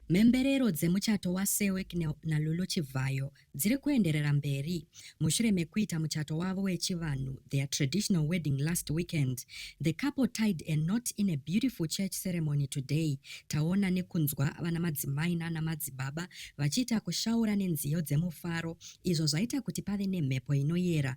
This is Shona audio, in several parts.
Mhemberero dzemuchato waSewek naLulu Chivhayo dziri kuenderera mberi mushure mekuita muchato wavo wechivanhu their traditional wedding last weekend. The couple tied a knot in a beautiful church ceremony today. Taona nekunzwa vana madzimai nana madzibaba vachiita kushaura nenziyo dzemufaro izvo zvaita kuti pave nemhepo inoyera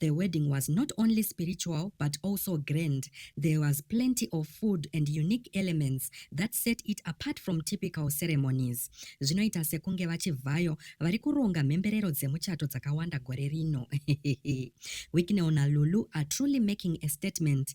The wedding was not only spiritual but also grand. There was plenty of food and unique elements that set it apart from typical ceremonies. Zvinoita sekunge vachivhayo vari kuronga mhemberero dzemuchato dzakawanda gore rino. Wicknell naLulu are truly making a statement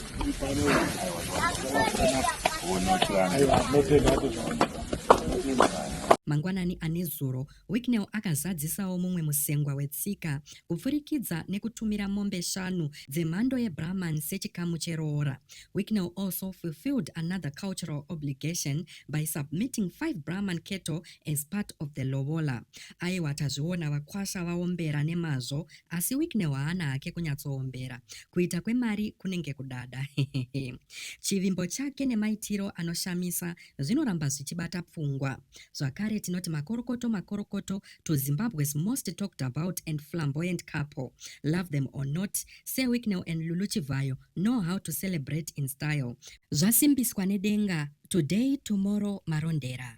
Mangwanani anezuro, Wicknell akazadzisawo mumwe musengwa wetsika kupfurikidza nekutumira mombe shanu dzemhando yeBrahman sechikamu cheroora. Wicknell also fulfilled another cultural obligation by submitting five Brahman cattle as part of the lobola. Aiwa tazviona vakwasha vaombera nemazvo Asi Wicknell haana hake kunyatsoombera. Kuita kwemari kunenge kudada. Hehehe. Chivimbo chake nemaitiro anoshamisa zvinoramba zvichibata pfungwa. Zvakare tinoti makorokoto makorokoto to Zimbabwe's most talked about and flamboyant couple. Love them or not, Sir Wicknell and Lulu Chivhayo know how to celebrate in style. Zvasimbiswa nedenga, today tomorrow marondera.